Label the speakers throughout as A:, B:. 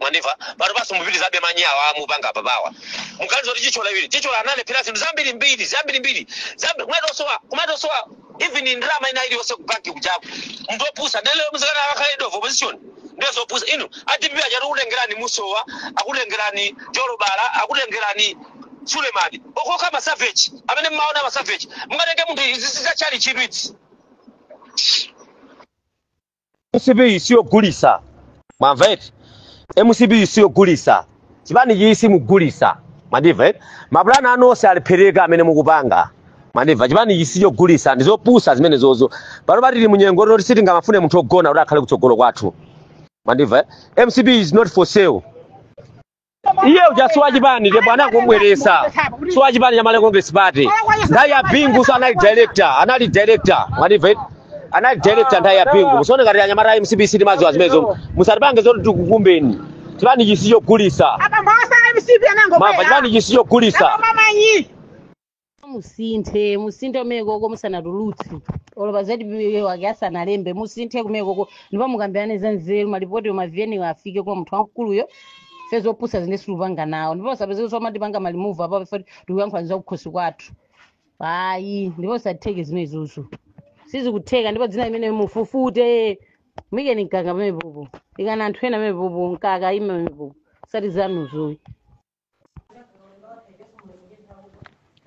A: mwandimva pano basi mupitilizabe manyi awa mukupanga apapawa muganiza kuti Chithyola iwiri Chithyola analephera zinthu zambiri mbiri zambirimbiri zambi- kumatosowa kumatosowa even ndrama ina iliyonse kubanki kujaku munthu opusa ndelero mzika akakhala leader of opposition ndiye zopusa inu a dpp akuti akutengerani musowa akutengerani jolobala akutengerani sulemani okoka masaveji amene mmaona masaveji mungatenge munthu izi zizachali chidwitsi mcp siyogulisa mwamva eti mcp siyogulisa chipani ichi simugulisa mwandimva eti mapulani anu onse alephereka amene mukupanga mwandimva chipani ichi sichogulisa ndizopusa zimenezozo pano patili munyengo toti sitingamafune munthu ogona kuti akhale kutsogolo kwathu mwandimva eh? mcp is not for sale iye uja si wachipani ndipo anangobweresa si wachipani cha malawi congress party nthawi ya bingu so anali director anali director mwandimva eti? anali director nthawi ya bingu musaone ngati anyamata a mcbc timaziwa zimenezo musatipange zoti tikukumbeni chipani ichi sichogulisa apa mphasa mcp Mumba anangobwera chipani ichi sichogulisa Koma manyi musinthe musinthe kumenekoko musanatulutse olo pa zatipiwe wake asanalembe musinthe kumenekoko ndipo mukambirane za nzeru malipoti ma vn-wo afike kwa munthu wamkuluyo first zopusa zinu sitikupanga nawo ndipo usapezeke kuti amatipanga malimuvu apo chifoti tikuyankhulani za kukhosi kwathu ayi ndipo usatheke zimenezozo sizikutheka ndipo dzina limene mufufute muikeni mkaka pamenepopo ikani anthu ena pamenepopo mkaka aime pamenepopo osati zanuzoyi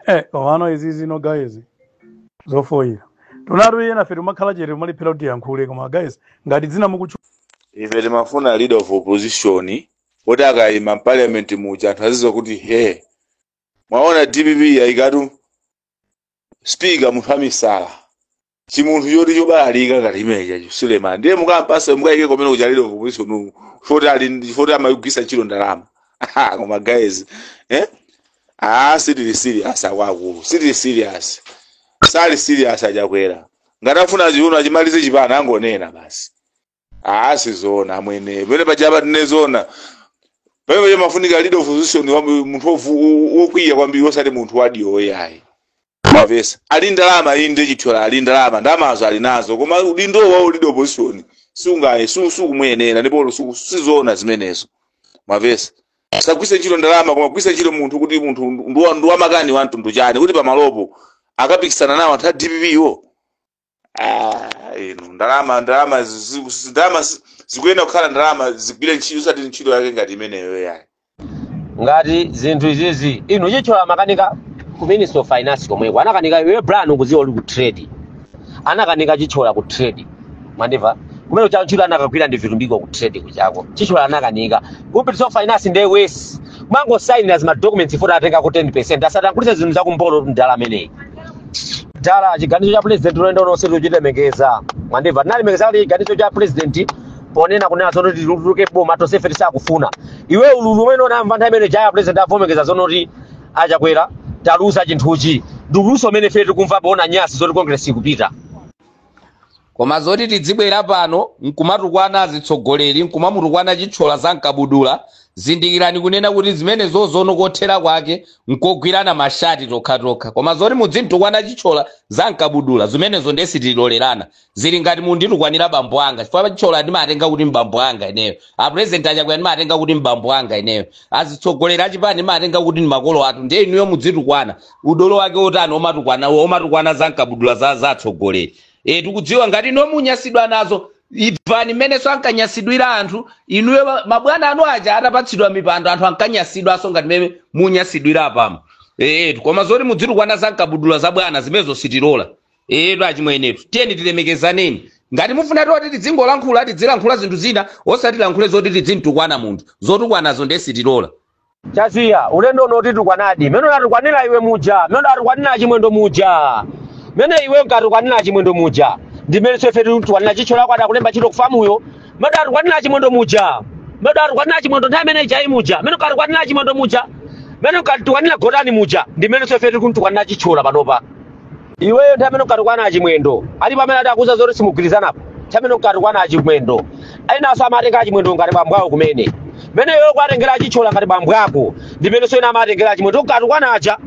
A: eh komano izi zino guys zofoyira tinatu iye nafe timakhala chete timaliphera kuti tiyankhule koma guys ngati dzina mukutchula ife timafuna leader of opposition kuti akayima mu parliament muja anthu aziziwa kuti he mwaona dpp yayikatu speaker munthu wamisala chimunthu choti chobalalika ngati chimene chija suleman ndiye mukampasa mukayike kumene kuchalire kupolisi unuku chifoti ali ndi- chifoti amagwisa ntchito ndalama Aha, koma guys eh? ah, sitili serious akwaakulu sitili serious sali serious achakwera ngati afuna chiuno achimalize chipani angonena basi Ah, sizoona amwene pamene paja apa sizoona pamene paja pamafunika leader of opposition wa- munthu wovu- wo- wokwiya kwambiri osati munthu wandiwo ayi mavesa ali ndalama ayi ndi chithyola ali ndalama ndalamazo ali nazo koma udindo wa leader of opposition sungaye su- sukumuyenera ndipo su- sizoona zimenezo mavesa sagwisa ntchito ndalama koma agwisa ntchito munthu kuti munthu ndi wa- ndi wamakani wa mtundu chani kuti pamalopo akapikisana nawo anthu a dpp-wo Ah, inu ndalama ndalama zi- zi- zi- ndalama zi- zikuyenera kukhala ndalama zigwire ntchito osati ntchito yake ngati imeneyo yayi ngati zinthu izizi inu chithyola munakanika ku ministry of finance komweko anakanika iwe brand ukuziwa uli ku trade anakanika chithyola ku trade mwandimva kumene cha ntchito anakagwira ndi vitumbiko ku trade kujako chithyola anakanika ku ministry of finance ndiye basi amangosainira zima documents zoti atengeko 10 percent asatangulitse zinthu zakumbolo mdala ameneyi dala chiganizo cha president ulendo uno tonse tichilemekeza mwandimva tinalemekeza kuti chiganizo cha president ponena kunena zono kuti tituluke boma tonse ife tisakufuna iwe ululu umene unamva nthawi imene ija a president avomekeza zono kuti achakwera taluza chinthuchi ndi ululunso umene ife tikumva poona nyasi zoti congress ikupita koma zoti tidzibwera pano nkumatukwana azitsogoleri nkumamutukwana chithyola za mkabudula zindikirani kunena kuti zimenezozo kothera kwake nkogwirana mashati tokhatokha koma zoti mudzimtukwana chithyola za mkabudula zimenezo ndiye sitilolerana zili ngati munditukwanira bambo anga chifukwa chithyola ndimatenga kuti mbambo anga ineyo apurezidenti achakwera ndimatenga kuti mbambo anga ineyo azitsogoleri achipani ndimatenga kuti ndi makolo athu ndiye inuyo mudzitukwana udolo wake otani omatukwana omatukwana za mkabudula za za atsogoleri e, tikudziwa ngati inu munyasidwa nazo imvani mmenenso ankanyasidwira anthu inuyo ma- mabwana anu aja atapatsidwa mipando anthu ankanyasidwanso ngati mmene munyasidwira apamu e, koma zoti mudzitukwana za mkabudula za bwana zimenezo sitilola etu achimwenetu tiyeni tilemekezaneni ngati mufuna zoti tidzingolankhula tidzilankhula zinthu zina osati tilankhule zoti tidzintukwana munthu zotukwanazo nde sitilola chaziya ulendo uno titukwanadi mene unatukwanira iwe muja mene unatukwanira achimwendo muja mene iwe unkatukwanira achimwendo muja ndimenenso ife titukwanira chithyola wako adakulemba ntchito kufamuyo mene unatukwanira achimwendo muja mene unatukwanira achimwendo nthawi imene ijayi muja mene ukatukwanira achimwendo muja mene ukatukwanira gotani muja ndimenenso ife tikuntukwanira chithyola panopa iweyo nthawi imene ukatukwana achimwendo alipo amene ati akuuza zoti simugwirizanapo nthawi imene ukatukwana achimwendo enanso amatenga achimwendo ngati bambo awo kumene mene iweyo ukuwatengera achithyola ngati bambo ako ndimenenso ena amatengera achimwendo ukatukwana aja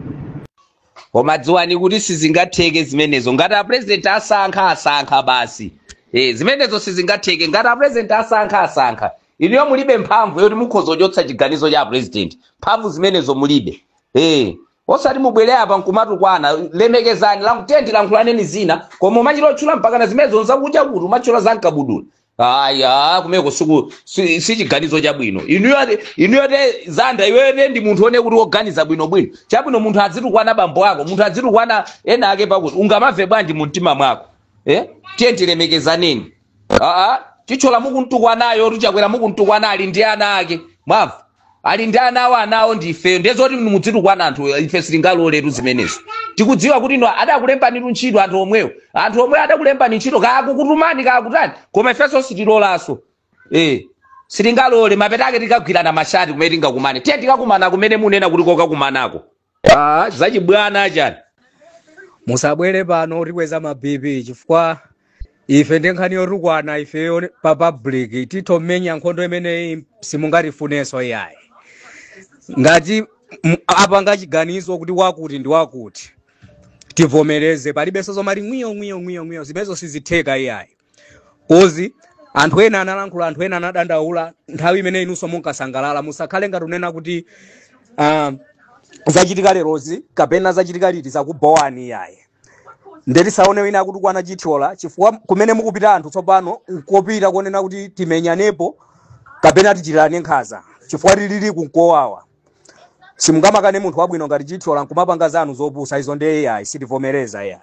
A: koma dziwani kuti sizingatheke zimenezo ngati apresident asankha asankha basi e, zimenezo sizingatheke ngati apresident asankha asankha inuyo mulibe mphamvu yoti mukhoza kuchotsa chiganizo cha apresident mphamvu zimenezo mulibe e, Osati mubwere apa nkumatukwana, lemekezani, lank- tiyeni tilankhulaneni zina, koma umachita otchula mpakana zimenezo nzakudya kuti umatchula za mkabudula. Ayi, kumeko siku si, si chiganizo chabwino. Inuyo ati- inuyo te zanda iweyo te ndi munthu one kuti woganiza bwino bwino. Chabwino munthu adzitukwana bambo ako, munthu adzitukwana ena ake pakuti ungamamve bwanji mu mtima mwako. Eh? Tiyeni tilemekezaneni. aa Chithyola mukumtukwanayo tichakwera mukumtukwana ali ndi ana ake mwamva ali ndi ana awo anawo ndi ifeyo ndiye zoti muzitukwana anthu ife sitingaloletu zimenezo tikudziwa kuti no adakulembanitu ntchito anthu omwewo anthu omwewo adakulembani ntchito kaya akukutumani kaya akutani koma ifenso sitilolanso eh sitingalole mapeto ake tikagwirana mashati kumene tingakumane tiye tikakumana kumene mukunena kuti kokakumanako Ah, zachibwana achani musabwere pano mutikweza ma bp chifukwa ife ndi nkhani yotukwana ifeyo pa public titha kumenya nkhondo imeneyi simungatifunenso iyayi ngati m- apanga chiganizo kuti wakuti ndi wakuti tivomereze palibenso zomati ngwiyo ngwiyo ngwiyo ngwiyo zimenezo sizitheka iyayi kozi anthu ena analankhula anthu ena anadandaula nthawi imene inunso munkasangalala musakhale ngati mukunena kuti ah, zachitika lerozi kapena zachitika liti zakubhowani iyayi nde tisaone wina akutukwana Chithyola chifukwa kumene mukupita anthu tsopano nkupita konena kuti timenyanepo kapena tichitirane nkhanza chifukwa tikuliunika kowawa simungamakane munthu wabwino ngati chithyola nkumapanga zanu zopusa izo ndiye iyayi sitivomereza iyayi